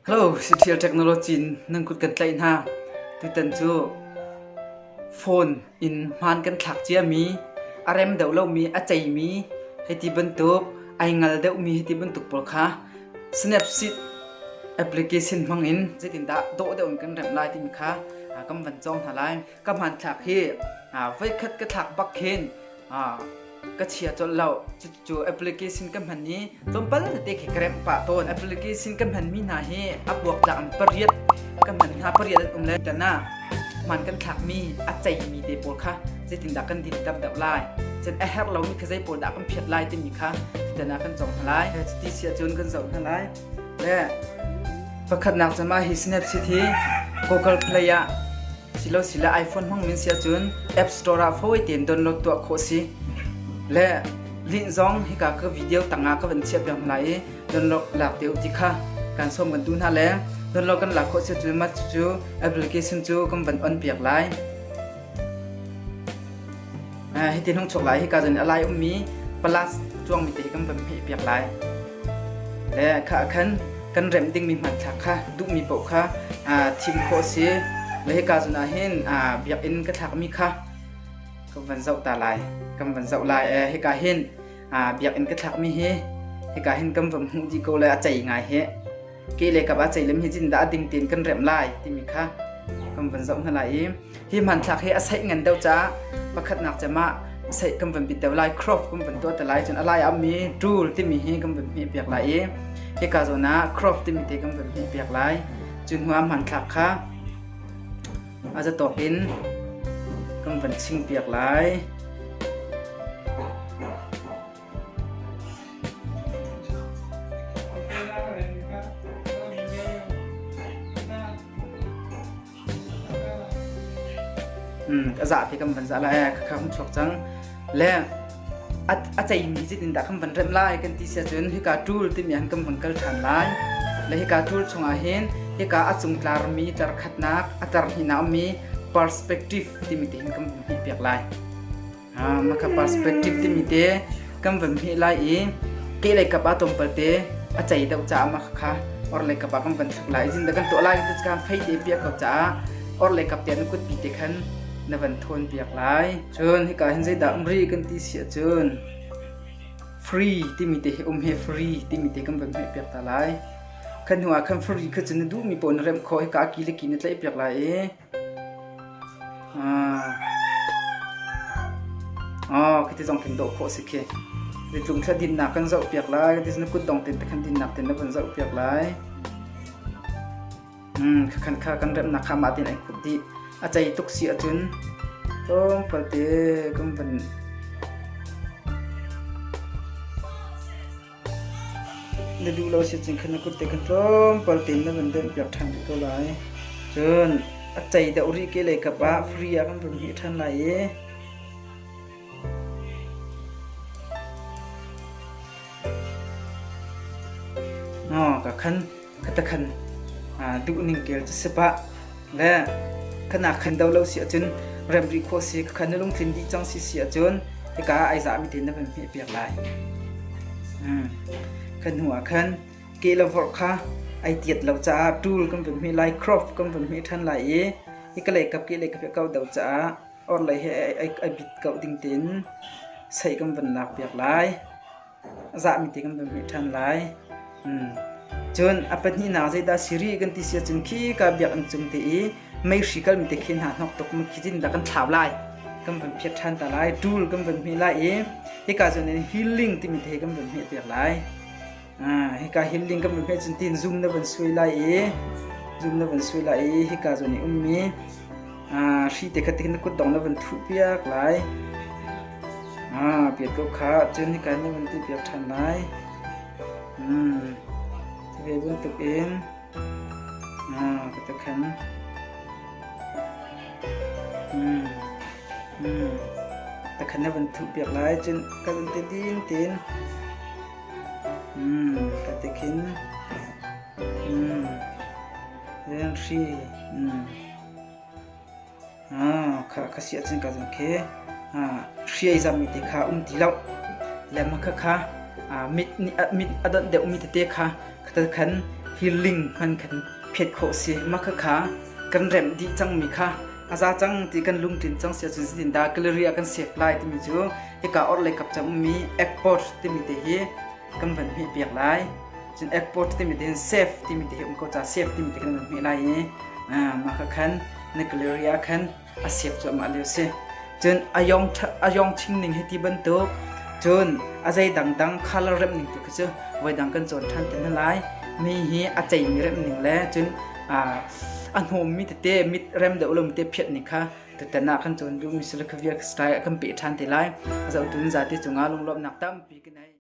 Hello, Citial Technology in nan kut kan tlaih hna. Tutan cu phone in hmaan kan thlak ciami, a rem deuh lomi, a ceimi, hei ti bantuk, ai ngal deuhmi hei ti bantuk pawl kha Snapseed application hmang in zeitindah dawh deuh in kan remh lai timi kha kan van cawng hna lai. ka hmanthlak hi voikhat ka thlak bak khin ka chia colh lo cu application ka hman i tlawmpal te khi ka remh pah tawn application ka hman mi hna hi a buak tlak in pariat ka hman hna pariat an um lai tan ah man kan thlak mi a cei mi te pawl kha zeitindah kan din tam deuh lai cun a herh lomi kha zei pawl dah kan phiat lai timi kha tana kan cong hna lai ti sia cun kan zoh hna lai le pakhatnak cu mah hi Snapchat hi Google Play ah silo sila iPhone hmang min si ahcun App Store ah fawi tein download tuah khawh si. Le link zong hika ka video tangah ka van chiah piak hna lai i download lak te u ti kha kan sawm kan tu hna le download kan lak khawh si cun mah cucu application cu kan van on piak lai. Hiti hnungchuk lai hika zan a lai ummi palas cuangmi te hi kan van hmeh piak lai. Le kha khan kan remh dingmi hmanthlak kha duhmi paoh kha thim khawh a si. Le hika zan ah hin biakinn ka thlakmi kha kan van zoh ta lai. Kan van zoh lai. Hika hin biakinn ka thlakmi hi hika hin kan van hmuh dih ko le a cei ngai hi. ke le kap ah ceilem hi cin dah a ding tiin kan remh lai timi kha kan van zoh hna lai i hi hmanthlak hi a saih ngan deuh ca pakhatnak cemah saih kan van bit deuh lai crop kan van tuah te lai cun a lai a mi tool timi hi kan van hmeh piak lai i hika zawn ah crop timi te kan van hmeh piak lai cu hnu ah hmanthlak kha a zatawk in kan van ching piak lai Hmm, ka za phi kam van za lai ka kham chuak chang le a chei mi zit in da kham van rem lai kan ti sia chun hika tul ti mi an kam van kal than lai le hika tul chunga hin hika a chung tlar mi tar khat nak a tar hi na mi perspective ti mi tin kam hi pek lai Makha perspective timi te kan van hmeh lai i ke lei kap ah tlawmpal te a cei deuh caah makha kha or lei kap ah kan van thlak lai zin da kan tuah lai kan ti caah fei te piak ko caah or lei kap te na kut pi te khan na van thawn piak lai cun hika hin zeidah umri kan ti si ahcun free timi te hi um he free timi te kan van hmeh piak ta lai khan hnu ah khan free kha cu na duhmi poh na remh khawh hika aki le ki na tlaih piak lai i Oh, khi ti zong kan dawh khawh si khi. Ni tlung thla dinnak kan zoh piak lai. Kan ti na kut dong ten te khan dinnak ten na van zoh piak lai. Hmm, khan kha kan remnak kha ma tin ai khut di. A cei tuk si acun. Tong palte kan van Na duh lo si cun khan na kut te kha tlawmpal tein na vun donhpiak ṭhan rih ko lai. Cun a cei deuh rih ke lei kap ah free ah kan vun hih ṭhan lai i Aw ka khan khatakhan duhning kel cu sip ah le khanak khan do lo si ahcun remri khawh si khakhan na lungtlin dih cang si si ahcun hika ah ai zahmi tein na van hmeh piak lai kha hnu ah khan ke le vorh kha ai tiat lo caah tool kan van hmeh lai crop kan van hmeh ṭhan lai i hika leikap ke leikap he kau do caah orhlei he ai bit kau ding tein sei kan van lak piak lai zahmi te kan pemhmi ṭhan lai. Cun a pahnihnak zeidah si rih kan ti si ahcun khi ka biakinn cung te i meihri kalmi te khi hna hnawk tuk mu khi cin dah kan thlau lai kan van phiat ṭhan ta lai ṭul kan van hmeh lai i hika cun healing timi te kan van hmeh piak lai hika healing kan van hmeh cun tin zum na van suai lai i zum na van suai lai i hika cun i ummi hri te kha tihin na kut dong na van thuh piak lai. piat ko kha cun nika ni van ti piak ṭhan lai. Hmm. Ve bantuk in ka tu khan hmm. hmm. ta khan na van thu piak lai cun ka lun te din tin hmm ka te khin hmm ren hri hmm ka si ahcun ka zumh khi hriai zammi te kha um ti loh. Lengmang khakha mit a donh deuhmi tete kha khatakhan hirling hman kan phet khawh si. Mah khakha kan remh dih cangmi kha a za cang ti kan lungtlin cang si ahcun zeitindah gallery ah kan siak lai timi cu hika orhlei kap cang ummi Apple timi te hi kan van hmeh piak lai cun export timi te safe timi te um ko ca safe timi te kan van hmeh lai i mah ka khan nuclear ah khan a sep cuahmah lio si cun ayong ayong chingning hi ti bantuk cun a zei dangdang color rem ning tu khi cu voi dang kan cawn than ten lai mi hi a chei mi rem ning le cun a hnawm mi tete mit rem deuh lom te phiat ning kha tutana kan cawn du mi sila khavia style kan pe than te lai zo tun za te chunga lunglom nak tampi kinai